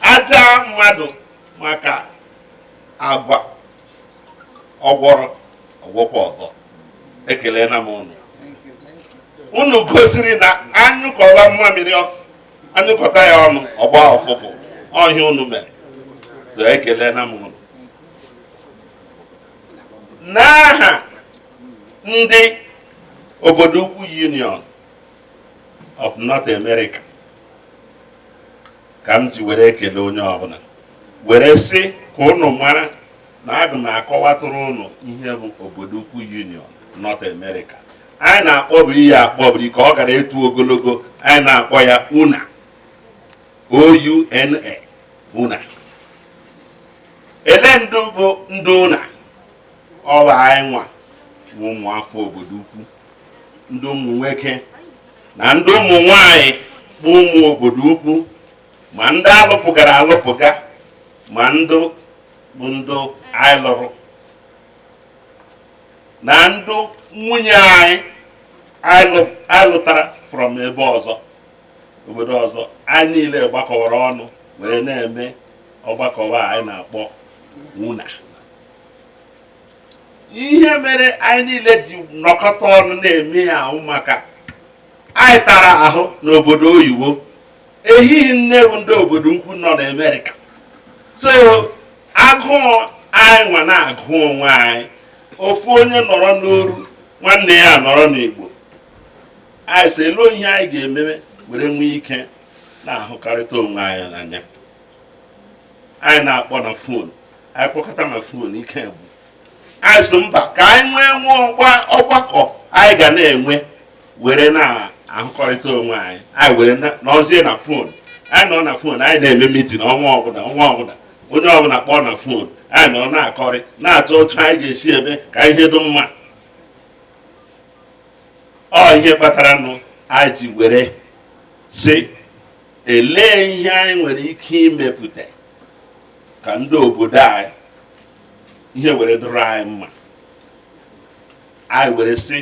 a jaa mmadụ maka agwa ọ gwọrọ ọ gwọkwa ọzọ ekelena m ụnụ unu gosiri na a nyụkọwa mmamiri a nyụkọta ya ọnụ ọ gbaa ụfụfụ ọ ihe unu mere so ekelena m ụnụ n'aha ndị obodo ukwu union of North America ka m ji were ekele onye ọbụla were sị ka ụnụ mara na aga m akọwatụrụ ụnụ ihe bụ obodo ukwu union North America anyị na-akpọbiri ya akpọbiri ka ọ ghara ito ogologo anyị na-akpọ ya una ouna una elee ndị bụ ndị una ọ wụ anyị nwa bụ ụmụafọ obodo ukwu ndị ụmụ nwoke na ndị ụmụ nwanyị bụ ụmụ obodo ukwu ma ndị alụpụgara alụpụga ma ndị bụ ndị anyị lụrụ na ndị nwunye anyị anyị lụtara from ebe ọzọ obodo ọzọ anyị niile gbakọwara ọnụ were na-eme ọgbakọwa anyị na-akpọ una ihe mere anyị niile ji nọkọta ọnụ na-eme ya wụ maka anyị tara ahụ n'obodo oyibo ehihie nne bụ ndị obodo ukwu nọ n'amerịka so agụụ anyị nwa na-agụ onwe anyị ofu onye nọrọ n'oru nwanne ya nọrọ n'igbo anyị sị elee ihe anyị ga-ememe were nwee ike na-ahụkọrịta onwe anyị n'anya anyị na-akpọ na fon anyị kpọkata na fon ike gwụ anyị sị mba ka anyị nwee nwa ọgbakọ anyị ga na-enwe were na-ahụkọrịta onwe anyị anyị were nọzie na fon anyị nọ na fon anyị na-eme mitin ọnwa ọbụla ọnwa ọbụla onye ọbụla kpọọ na fon anyị nọ na-akọrị na-atụ otu anyị ga-esi eme ka ihe dị mma ọ ihe kpatara nụ anyị ji were sị elee ihe anyị nwere ike imepụta ka ndị obodo anyị ihe were dụrụ anyị mma anyị were sị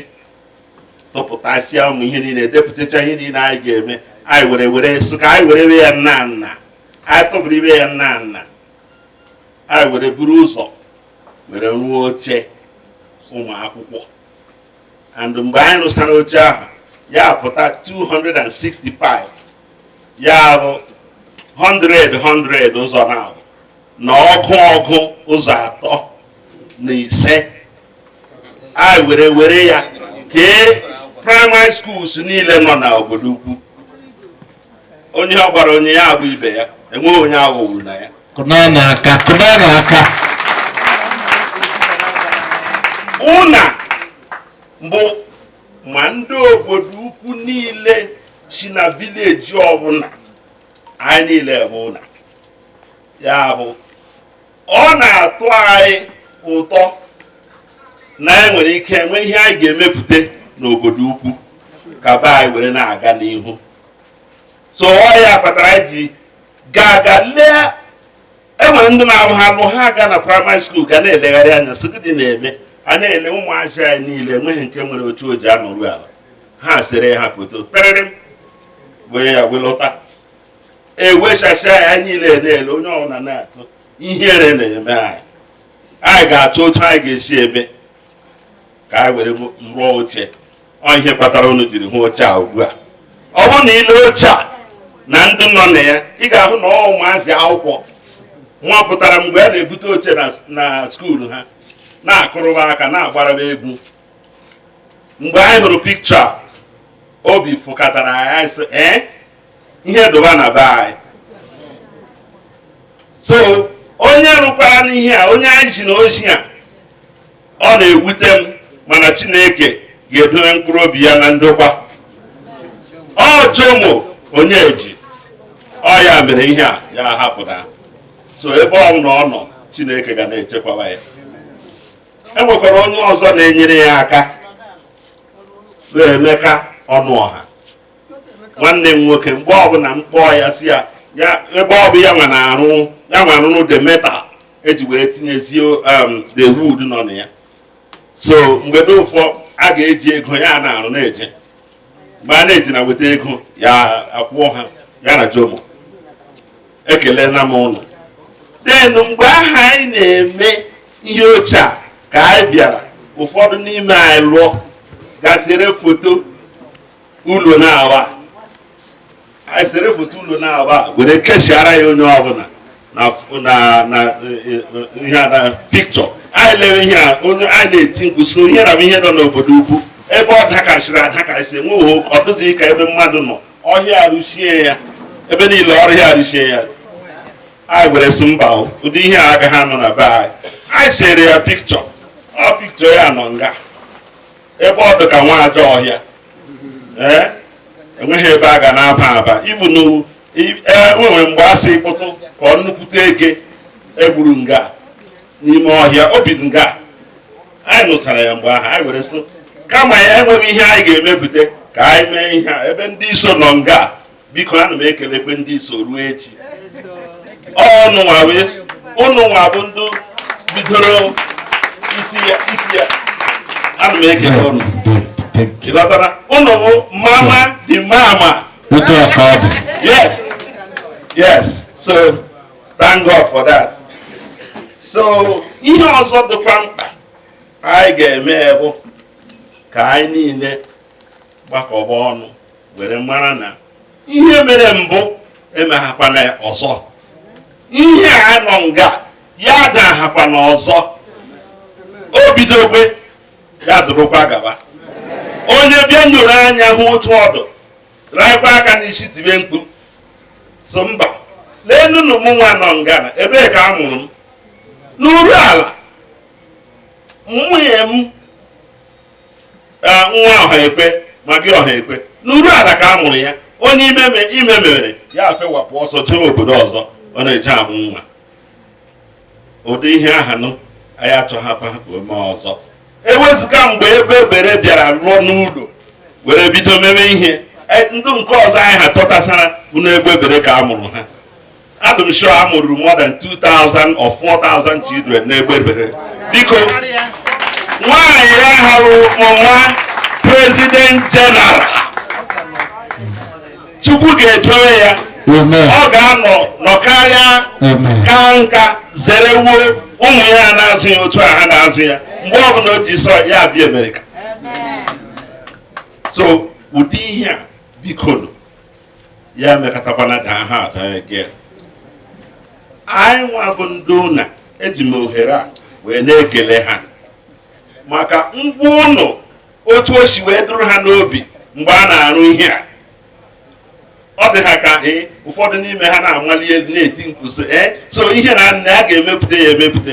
tụpụtasịa ụmụ ihe niile depụtacha ihe niile anyị ga-eme anyị were were sị ka anyị werebe ya nnaa nnaa anyị tụpụrụ ibe ya nnaa nnaa anyị were buru ụzọ were rụọ oche ụmụ akwụkwọ and mgbe anyị rụsara oche ahụ ya pụta 265 ya bụ 100 100 ụzọ naabụ na ọgụ ọgụ ụzọ atọ na ise anyị were were ya kee primary schools niile nọ na obodo ukwu onye ọ gwara onye ya agwa ibe ya enweghị onye aghọgburu na ya kụnanụ aka kụnanụ aka ụna bụ ma ndị obodo ukwu niile si na village ọbụla anyị niile bụ ụna ya bụ ọ na-atụ anyị ụtọ na anyị e nwere ike nwee ihe anyị ga-emepụta n'obodo ukwu ka be anyị were na-aga n'ihu so ọ ya kpatara anyị ji gaa aga lee enwere ndị na-arụ ha arụ ha aga na primary school ga na-elegharị anya sị gịnị na-eme a na-ele ụmụazị anyị niile enweghị nke nwere oche o ji anọrụ ala ha sere ha foto perịrị wee ya welọta ewechasịa anyị niile na-ele onye ọbụla na-atụ ihere na-eme anyị anyị ga-atụ otu anyị ga-esi eme ka anyị were rụọ oche ọ ihe kpatara unu jiri hụ oche a ugbu a ọ bụrụ na i lee oche a na ndị nọ na ya ị ga-ahụ na ọ ụmụazị akwụkwọ nwa pụtara mgbe a na-ebute oche na school ha na-akụrụba aka na-agbaraba egwu mgbe anyị hụrụ picture obi fụkatara anyị sị ee eh? ihe dụba na be anyị so onye rụkwara n'ihe a onye anyị ji na ozi a ọ na-ewute m mana chineke ga-edowe mkpụrụ obi ya na ndokwa ọ jomo onyeji ọ ya mere ihe a ya hapụta so ebe ọbụla ọ nọ chineke ga na-echekwaba ya e nwekwara onye ọzọ na-enyere ya aka bụ emeka ọnụọha nwanne m nwoke mgbe ọbụla m kpọọ ya sị ya ya ebe ọ bụ ya nwa na-arụ ya nwa arụrụ the metal eji wee tinyezie um, the wood nọ na ya so mgbe dị ụfọ a ga-eji ego ya na-arụ na-eje mgbe a na-eji na weta ego ya akwụọ ha ya na jomo ekelena m unu then mgbe ahụ anyị na-eme ihe oche a ka anyị bịara ụfọdụ n'ime anyị lụọ ga sere foto ụlọ na-awa anyị sere foto ụlọ na-awa were keshiara ya onye ọbụla na ihe na picture anyị lere ihe a onye anyị na-eti mkpu so ihe na ihe nọ n'obodo ukwu ebe ọ dakasịrị adakasị enweghị ọ dụzighị ka ebe mmadụ nọ ọhịa arụchie ya ebe niile ọhịa arụchie ya anyị were sị mba ụdị ihe a agaghị anọ na be anyị anyị sere ya picture ọ picture ya nọ nga ebe ọ dị ka nwa ajọ ọhịa ee enweghị ebe a ga na-aba aba even enwere mgbe a sị kpụtụ ka ọ nnukwute eke egburu nga n'ime ọhịa o bi nga anyị nụchara ya mgbe ahụ anyị were sị kama ya enweghị ihe anyị ga-emepụta ka anyị mee ihe a ebe ndị iso nọ nga biko ana m ekelekwe ndị iso ruo echi ụnụ nwa wee ụnụ nwa bụ ndị bidoro isi ya isi ya ana m ekele ụnụ ịghọtara ụnụ bụ mama dị mama otu a ka ọ dị yes yes so thank god for that so ihe ọzọ dịkwa mkpa anyị ga-eme bụ ka anyị niile gbakọba ọnụ were mara na ihe mere mbụ emeghakwana ọzọ ihe a nọ nga ya adahakwana ọzọ o bidogwe ya dụrụkwa gaba onye bịa nyoro anya hụ otu ọ dụ raịkwa aka n'isi tibe mkpu so mba leenụnụ m nwa nọ nga ebee ka a mụrụ m n'Urualla nwunye m nwa Ọhaekwe ma gị Ọhaekwe n'Urualla ka a mụrụ ya onye ime ime mere ya afewapụ ọsọ jee obodo ọzọ ọ na-eje amụ nwa ụdị ihe ahanụ anyị achọghakwa ka o mee ọzọ ewezuga mgbe Egbebere bịara lụọ n'ụlọ were bido mebe ihe ndụ nke ọzọ anyị ha tọtasara bụ n'Egbebere ka a mụrụ ha adị m sure a mụrụ more than 2000 or 4000 children n'Egbebere biko nwaanyị ya hụrụ nwa president general Chukwu ga-edowe ya ọ ga-anọ nọkarịa kaa nka zerewo ụmụ ya na-azụ ya otu a ha na-azụ ya mgbe ọ bụla o ji sọ ya abịa Amerịka so ụdị ihe a biko ya mekọtakwana ka ha ada ege anyị nwa bụ ndị UNA eji m ohere a wee na-ekele ha maka ngwa ụnụ otu o si wee dụrụ ha n'obi mgbe a na-arụ ihe a ọ dị ha ka ee ụfọdụ n'ime ha na-amali elu na-eti mkpu sị ee so ihe nna a ga-emepụta ya emepụta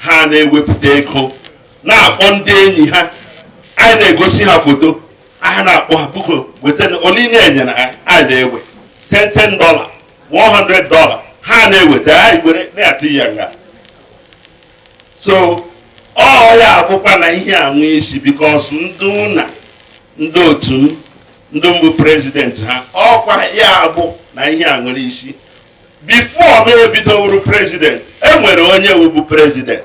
ha na-ewepụta ego na-akpọ ndị enyi ha anyị na-egosi ha foto aha na-akpọ ha biko wetara ole inye enye na anyị na-ewe 10 10 dollar 100 dollar ha na-eweta anyị were na-atụ ya nga so ọ ya abụkwa na ihe a nwee isi because ndị UNA ndị otu m ndị m bụ president ha ọkwa ya abụ na ihe a nwere isi before m ebido wụrụ president e nwere onye wụbu president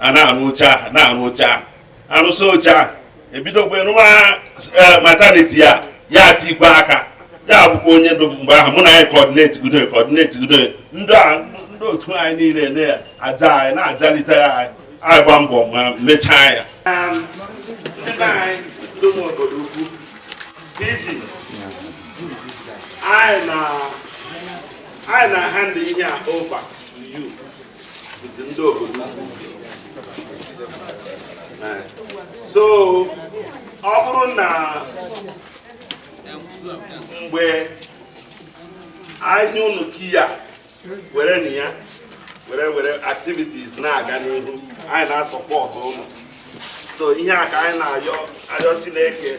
a na-arụ oche ahụ na-arụ oche ahụ arụsị oche ahụ ebidokwa nwa e, maternity ya ya tikwa aka ya bụkwa onye ndu mgbe ahụ mụ na anyị kọdineti gudo kọdineti gudo ndị otu anyị niile na-aja anyị na-ajalite ya anyị agba mbọ ma mechaa ya ndị be anyị ndị obodoukwu anyị na-ahand ihe a over to you so ọ bụrụ na mgbe anyị unu kiya were na ya were activities na-aga n'ihu anyị na-asupport ụnụ so ihe a ka anyị na-ayọ Chineke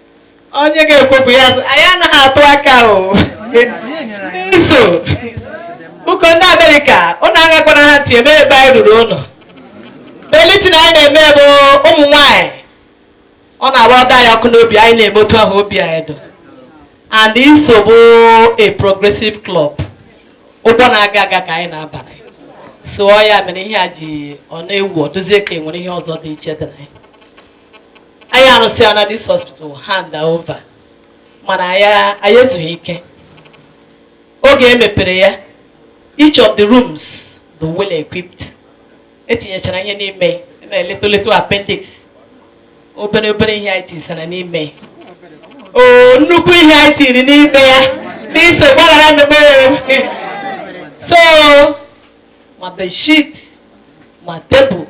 onye ga-ekwu ya anyị anaghị atụ aka o n'iso ụkọ ndị amerịka ụnụ agakwana ha tie mee ebe anyị ruru ụnụ belitin anyị na-eme bụ ụmụ nwanyị ọ na-agba ọda anyị ọkụ n'obi anyị na-eme otu ahụ obi anyị dụ and iso bụ a progressive club ụgbọ na-aga aga ka anyị na-abara so ọ ya mere ihe e ji ọ na-ewu ọ dụzie ka e nwere ihe ọzọ dị iche dị na ya anyị arụsịana this hospital hand over mana anyị ezughị ike oge e mepere ya each of the rooms dị well equipped e tinyechara ihe n'ime little little appendix obere obere ihe anyị tisara n'ime o nnukwu ihe anyị tiri n'ime ya n'iso gbaghara mmemme so ma bedsheet ma table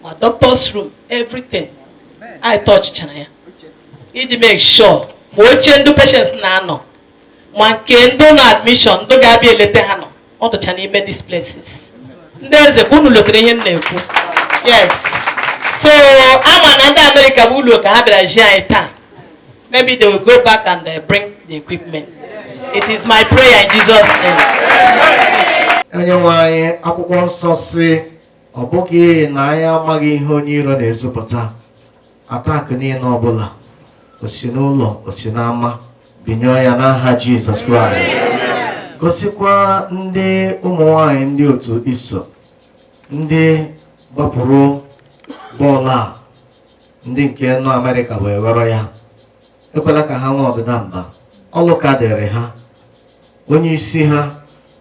ma doctor's room everything anyị tọchichara ya iji make sure ma oche ndị patients na-anọ ma nke ndị nọ admission ndị ga-abịa eleta ha nọ ọ dụcha n'ime these places ndị eze ka unu lotere ihe m na-ekwu yes so ama m na ndị amerịka bụ ụlọ ka ha bịara join anyị taa maybe they will go back and uh, bring the equipment it is my prayer in jesus name onye nwe anyị akwụkwọ nsọ sị ọ bụghị na anyị amaghị ihe onye iro na-ezupụta attack niile ọbụla o si n'ụlọ o si n'ama bind ya n'aha jizọs kraịst gọzikwa ndị ụmụ nwanyị ndị otu iso ndị gbapụrụ bọọlụ a ndị nke nọ amerịka wee ghọrọ ya ekwela ka ha nwee ọdịda mba ọlụ ka dịrị ha onye isi ha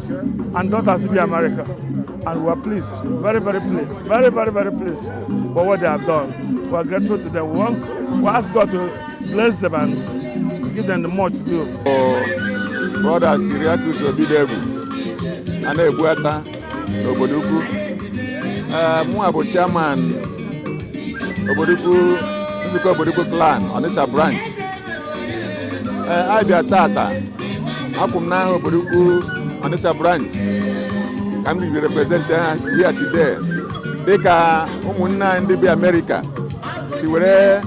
sons and daughters be America. And we're pleased, very, very pleased, very, very, very pleased for what they have done. We're grateful to them. We, want, we ask God to bless them and give them the much to do. Brọda Siriakus Obidebu a na-ebuata n'obodo ukwu ee mụnwa bụ chairman obodo ukwu nzukọ obodo ukwu clan Onitsha branch ee anyị bịa tata akwụ m n'aha obodo ukwu Onitsha branch ka m bịa represente ha here today dịka ụmụnne anyị ndị bi Amerịka si were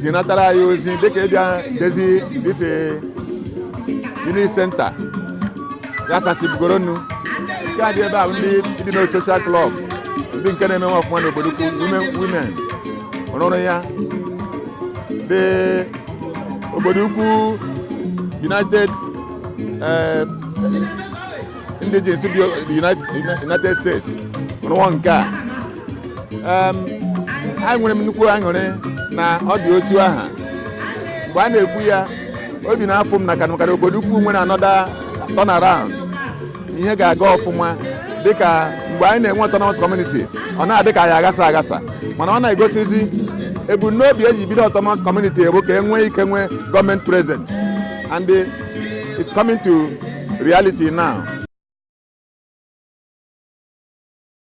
zinatara anyị ozi dịka ịbịa dezie this unity center ya sasibugoronu nke a dị ebe a bụ ndị ndị nọ social club ndị nke na-eme nwa ọfụma n'obodo ukwu women women rụrụ ya the obodo ukwu united eh, indigenes bi United- united states rụọ nke a Em, enwere m nnukwu aṅụrị na ọ dị otu aha mgbe a na-ekwu ya obi na-afụ m na kanụkarị obodo ukwu nwere another turnaround ihe ga-aga ọfụma dịka mgbe anyị na-enwe autonomous community ọ na-adị ka anyị aghasa aghasa mana ọ na-egosizi ebumnobi eji bido autonomous community bụ ka e nwee ike nwee government presence and eh, it's coming to reality now.